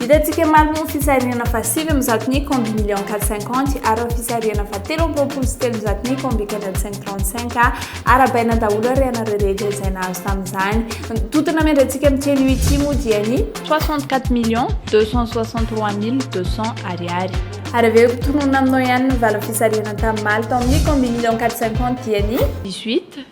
Hitantsika marina ny fisarihana fahasivy amin'ny zato ny combi million 450 ary ny fisarihana fahatelo amby roapolo sy telonjato ny combi 4535 arabaina daholo ary ianareo rehetra izay nahazo tamin'izany. Ny tontona miandratsika amin'ny teny UIT moa dia ny 64 millions 263 mille 200 ariary. Ary avy eo tononina aminao ihany ny valin'ny fisarihana tamin'ny maly tao amin'ny combi million 450 dia ny 18.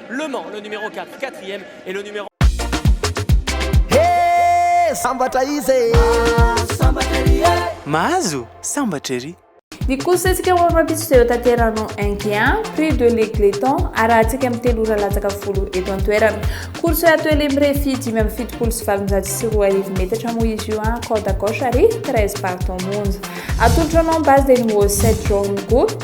Le Mans, le numéro quatre, quatrième, et le numéro. He! Sambatra izy e! Mahazo sambatra ery e! Mahazo sambatra ery! Ny kosetsika ho amin'ny rahampitso dia hotanterahano Inkian, Prix de l'Egletton, arahantsika amin'ny telo ora latsaka folo eto an-toerana. Course ato Elim Refi dimy amby fitopolo sy valonjato sy roa arivo metatra moa izy io an, corde à gauche ary treize partants monja. Atolotro anao ny base dia ny Wall Set Journey Group.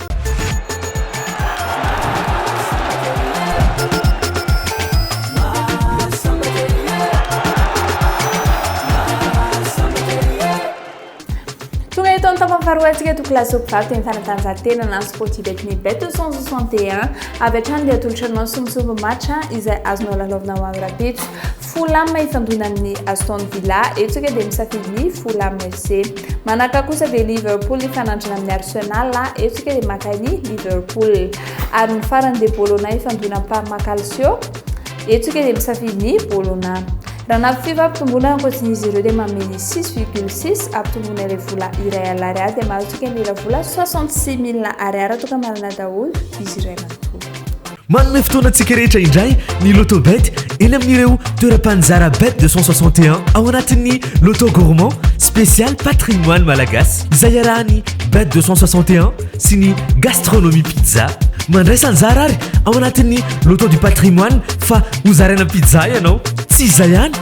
Faharoantsika to classe mpivarotra ny fanatanjahantena na sport ibet ny bet 161 avy hatrany dia atolotra anao somosomo match izay azonao lalaovina ho amin'ny rapitso Fulham ifandona amin'ny Aston Villa, eto isika dia misafidy ny Fulham FC. Manaraka kosa dia Liverpool ifanandrina amin'ny Arsenal, eto isika dia maka ny Liverpool. Ary ny farany dia Bologna ifandona amin'ny Parma Calcio, eto isika dia misafidy ny Bologna. Raha nampifefa ampitomboana ankoatsin'izy ireo dia manome ny 6,6 ampitomboana ilay vola iray alina ariary dia mahazo isika ny ela vola 66 mille ariary toka-manana daholo izy iray manontolo. Manome fotoana antsika rehetra indray ny Lotobet eny amin'ireo toeram-panjara Bet 261 ao anatin'ny Loto Gourmand spécial patrimoine malagasy izay iarahan'ny Bet 261 sy ny Gastronomie Pizza. Mandraisa anjara ary ao anatin'ny Loto du patrimoine fa hozaraina pizza ianao. Tsy izay ihany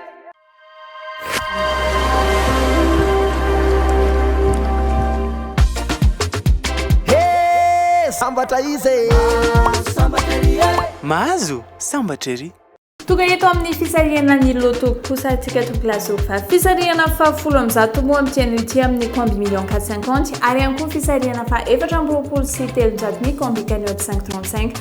sambatra izy e sambatra ery e mahazo sambatra ery Tonga eto amin'ny fisarihana ny loto kosa antsika tompoko lazofa. Fisarihana fahafolo amin'ny zato moa amin'ity anio ity amin'ny komby million 450 ary ihany koa fisarihana faha efatra amby roapolo sy telonjato ny komby cagnotte 535.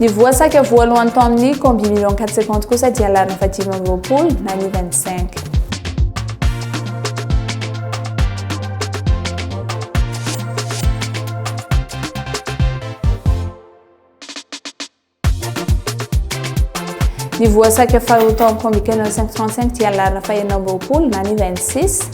Ny voa saika voalohany tao amin'ny Combi Million 450 kosa dia lariny fahadimy amby roapolo na ny 25. Ny voa saika faharoa tao amin'ny Combi Canon 535 dia larina fahenina amby roapolo na ny 26.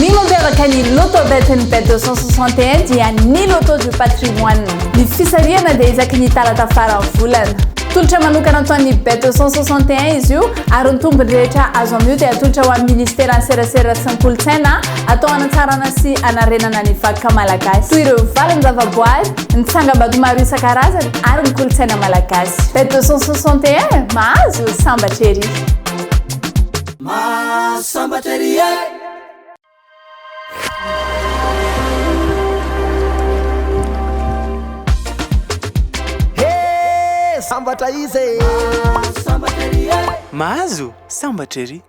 Ny mampiavaka ny Loto Bet'N Bet 261 dia ny Loto du Patrimoine. Ny fisarihana dia isaky ny talata faran'ny volana. Tolotra manokana ataon'ny Bet 261 izy io ary ny tombony rehetra azo amin'io dia atolotra ho an'ny Ministeran'ny Serasera sy ny Kolontsaina atao hanatsarana sy hanarenana ny vakoka malagasy toy ireo valin-javaboary, ny tsangambato maro isan-karazany ary ny kolontsaina malagasy. Bet 261, mahazo sambatra ery! Mahasambatra ery eh! Hey! Sambatra izy eh! Mahasambatra ery eh! Mahazo sambatra ery!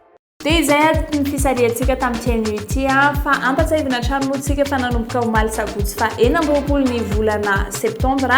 Dia izay ato ny fisarihantsika tamin'ity anio ity fa ampatsahivina hatrany moa tsika fa nanomboka omaly sabotsy fa enina amby roapolo ny volana septambra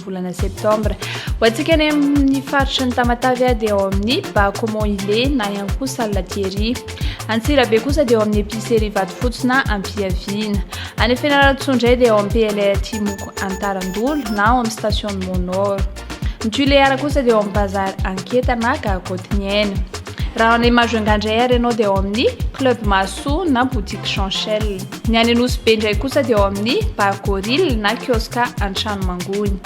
volana septambra. Ho antsika any amin'ny faritry ny Tamatavy dia ao amin'ny Ba Comment Il est na ihany koa Salle Thierry. Antsirabe kosa dia ao amin'ny Epicerie Vatofotsy na Ampiaviana. Any Fianarantsoa indray dia ao amin'ny PLR Timoko Antarandolo na ao amin'ny Station Monor. Ny Tuléar kosa dia ao amin'ny Bazar Anketa na Gare Kotiniaina. Raha any Majunga indray ary ianao dia ao amin'ny Club Mahasoa na Boutique Chanchel. Ny any Anosibe indray kosa dia ao amin'ny Bar Gorille na Kiosque Antranonmangony.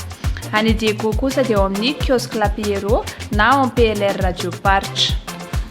Any Diego kosa dia ao amin'ny Kiosque La Pierrot na ao amin'ny PLR Radioparitra.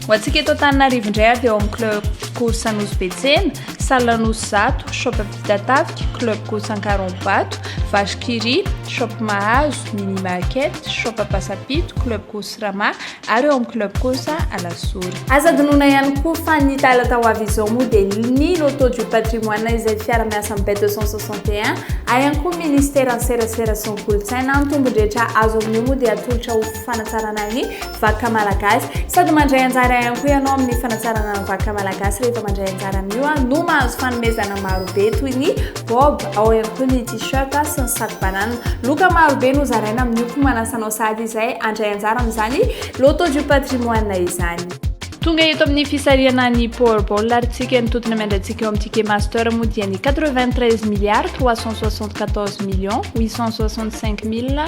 Ho antsika eto Antananarivo indray ary dia ao amin'ny Club Course Anosibe Tsena, Salle Anosy Zato, Shop Ampitatafika, Club Course Ankaronbato, Vache Kiri, Shop Mahazo, Mini Market, Shop Ampasapito, Club Course Rama Ary eo amin'ny club kosa Alasora. Aza adinoina ihany koa fa ny talata ho avy izao moa dia ny Loto du patrimoine izay fiara-miasan'ny Bet 261 ary ihany koa Ministeran'ny serasera sy ny kolontsaina. Ny tombon-drehetra azo amin'io moa dia atolotra ho fanatsarana ny vakoka malagasy. Sady mandray anjara ihany koa ianao amin'ny fanatsarana ny vakoka malagasy rehefa mandray anjara amin'io no mahazo fanomezana marobe toy ny Bob, ao ihany koa ny t-shirt sy ny sac banane. Loka maro be no zaraina amin'ny hopy manasanao sahady izay handray anjara amin'izany Loto du patrimoine izany. Tonga eto amin'ny fisarihana ny Powerball ary tsika ny totona miandratsika eo amin'ny Ticket Master moa dia ny 93 milliards 374 millions 865 mille